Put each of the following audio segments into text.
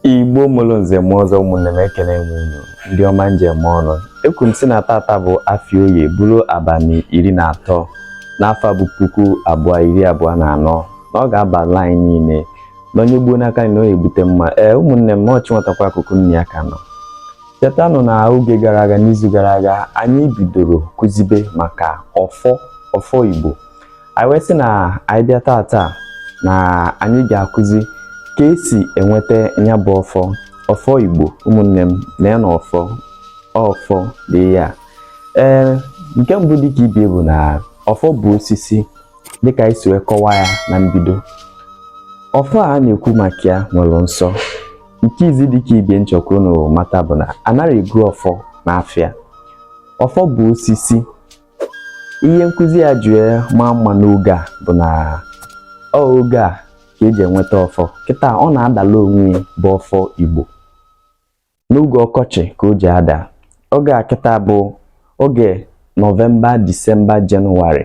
igbo mụrụ nze mụọ ọzọ ụmụnne m ekele m unu ndị ọma njem ọnụ ekwu m sị na tata bụ afịa oye bụrụ abalị iri na atọ n'afọ bụ puku abụọ iri abụọ na anọ na ọ ga-abala anyị niile na onye gbuo n'aka na onye ebute mma ee ụmụnne m ọchị nwetakwa akụkụ nne ya ka nọ chetanụ na oge gara aga n'izu gara aga anyị bidoro kụzibe maka ọfọ ọfọ igbo anyị wee sị na anyị bịa tata na anyị ga-akụzi ka esi enweta nya bụ ọfọ ọfọ igbo ụmụnne m na ya na ọfọ ọfọ dị ya ee nke mbụ dịka ibe ya bụ na ọfọ bụ osisi dịka anyị si wee kọwaa ya na mbido ọfọ a na-ekwu maka ya nwere nsọ nke izi dịka ibe ya m chọkwa unu mata bụ na anaghị ego ọfọ n'afịa ọfọ bụ osisi ihe nkụzi a ji maa mma n'oge a bụ na oge a ka eji enweta ọfọ kịta ọ na-adala onwe ya bụ ọfọ Igbo n'oge ọkọchị ka o ji ada oge a kịta bụ oge nọvemba disemba jenụwarị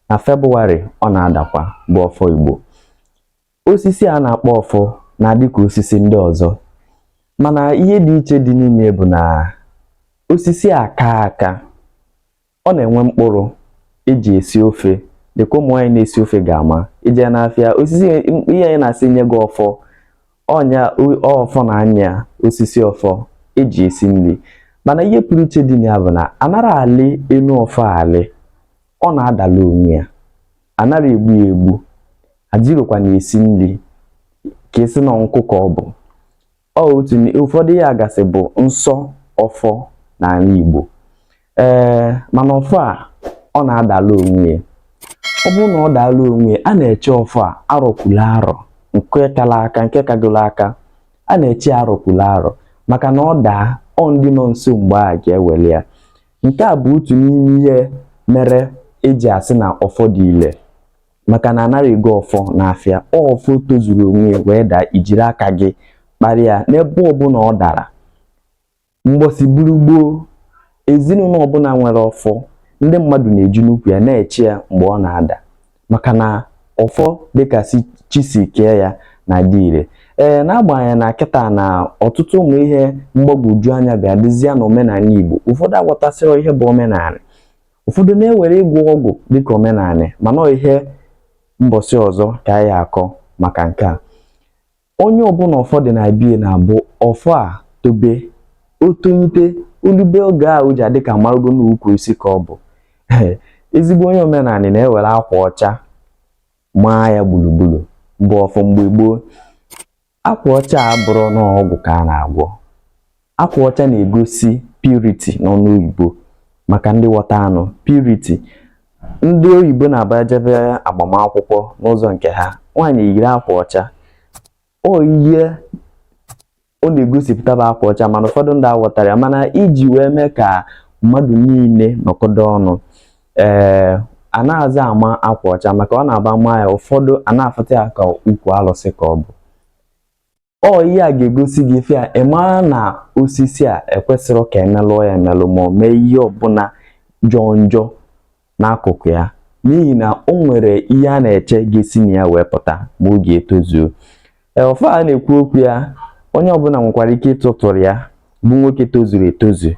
na febụwarị ọ na-adakwa bụ ọfọ Igbo osisi a na-akpọ ọfọ na-adị ka osisi ndị ọzọ mana ihe dị iche dị n'ime bụ na osisi a kaa aka ọ na-enwe mkpụrụ eji esi ofe dịka ụmụ nwaanyị na-esi ofe ga-ama i je n'afịa osisi ihe anyị na-asị nye gị ọfọ ọ nya ọfọ na anya osisi ọfọ eji esi nri mana ihe pụrụ iche dị na ya bụ na anara alị enu ọfọ alị ọ na-adala onwe ya anara egbu ya egbu ejirokwa na-esi nri ka esi na nkụ ka ọ bụ ọ otu ụfọdụ ihe gasị bụ nsọ ọfọ n'ala Igbo ee mana ọfọ a ọ na-adala onwe ya ọ bụrụ na ọ daala onwe ya a na-eche ọfọ a arọ kwula arọ nke kala aka nke kagolo aka a na-eche arọ kwula arọ maka na ọ daa ọ ndị nọ nso mgbe a ga-ewere ya Nke a bụ otu n'ime ihe mere eji asị na ọfọ dị ile maka na anaghị ego ọfọ n'afịa ọfọ tozuru onwe ya wee daa i jiri aka gị kparị ya n'ebe ọbụla ọ dara mbọsị buru gboo ezinụlọ ọbụla nwere ọfọ ndị mmadụ na-eje n'ukwu ya na-eche ya mgbe ọ na-ada maka na ọfọ dịka chi si kee ya na-adị ire ee n'agbanyeghị na kịta na ọtụtụ ụmụ ihe mgbagwoju anya bịa dịzie na omenala Igbo ụfọdụ aghọtasịrị ihe bụ omenala ụfọdụ na-ewere ịgwọ ọgwụ dịka omenala mana ihe mbọsị ọzọ ka anyị akọ maka nke a onye ọbụla ọfọ dị na bie na-abụ ọfọ a tobe o tonyite o lube oge a o ji adị ka marugo na ukwu isi ka ọ bụ ezigbo onye omenala na-ewere akwa ọcha maa ya gburugburu bụ ọfọ mgbe gboo akwa ọcha abụrụ n'ọgwụ ka a na-agwọ akwa ọcha na-egosi purity n'ọnụ oyibo maka ndị ghọta anụ purity ndị oyibo na-abụ ha jebe agbamakwụkwọ n'ụzọ nke ha nwaanyị yiri akwa ọcha ọ ihe ọ na-egosipụta bụ akwa ọcha mana ụfọdụ ndị aghọtara ya mana iji wee mee ka mmadụ niile nọkọdo ọnụ ee anazị ama akwa ọcha maka ọ na-abụ a maa ya ụfọdụ a na-afụta ya ka ukwu alụsị ka ọ bụ ọ ihe a ga-egosi gị ife a ị mara na osisi a ekwesịrị ka e melụọ ya emelụ ma ọ mee ihe ọbụla jọọ njọ n'akụkụ ya n'ihi na o nwere ihe a na-eche ga-esi na ya wee pụta ma oge etozuo ọfọ a na-ekwu okwu ya onye ọbụla nwekwara ike ịtụtụrụ ya bụ nwoke tozuru etozu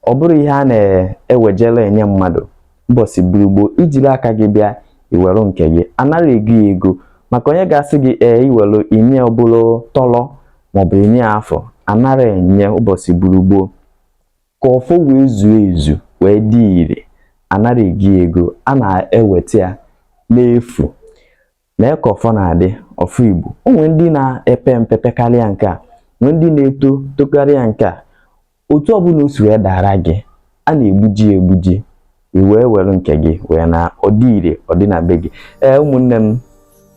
ọ bụrụ ihe a na-ewejela enye mmadụ mbọsị burugbo i jiri aka gị bịa i were nke gị anara ego ya ego maka onye ga-asị gị ee i were i nye ọ bụrụ tọrọ maọbụ i nye afụ anara enye ụbọchị burugbo ka ọfọ wee zuo ezu wee dị ire anara ego ego a na-eweta ya n'efu Lee ka ọfọ na-adị ọfọ Igbo. O nwere ndị na-epe mpe pekarịa nke a, nwee ndị na-eto tokarịa nke a. Otu ọbụla o si wee dara gị, a na-egbuji ya egbuji, i wee were nke gị wee naa ọ dị ire ọ dị na be gị. Ee ụmụnne m,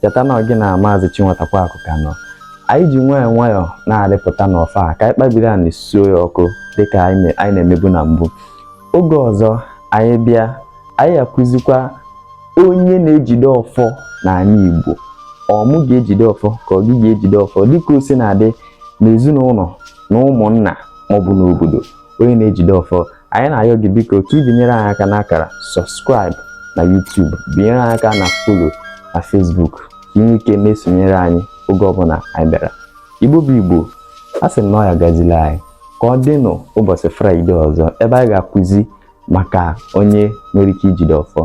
cheta na ọ gị na Maazị Chinwata Kwaku ka nọ. Anyị ji nwayọọ nwayọọ na-arịpụta n'ọfọ a ka anyị kpabiri anị suo ya ọkụ dịka anyị na-emebu na mbụ. oge ọzọ anyị bịa anyị akụzikwa onye na-ejide ọfọ n'ala Igbo ọ mụ ga-ejide ọfọ ka ọ gị ga-ejide ọfọ dịka o si na-adị n'ezinụlọ na ụmụnna maọbụ n'obodo onye na-ejide ọfọ anyị na-ayọ gị biko ka ị binyere anyị aka n'akara subscribe na YouTube binyere anyị aka na follow na Facebook ka i nwee ike na-esonyere anyị oge ọbụla anyị bịara Igbo bụ Igbo a sị m na ọ ya gazili anyị ka ọ dịnụ ụbọchị fraịde ọzọ ebe anyị ga-akụzi maka onye nwere ike ijide ọfọ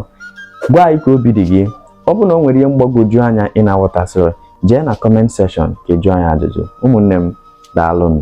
gwa anyị ka obi dị gị ọ bụrụ na o nwere ihe mgbagwoju anya ị na-aghọtasịrị jee na comment section ka ị jụọ anyị ajụjụ ụmụnne m daalụnụ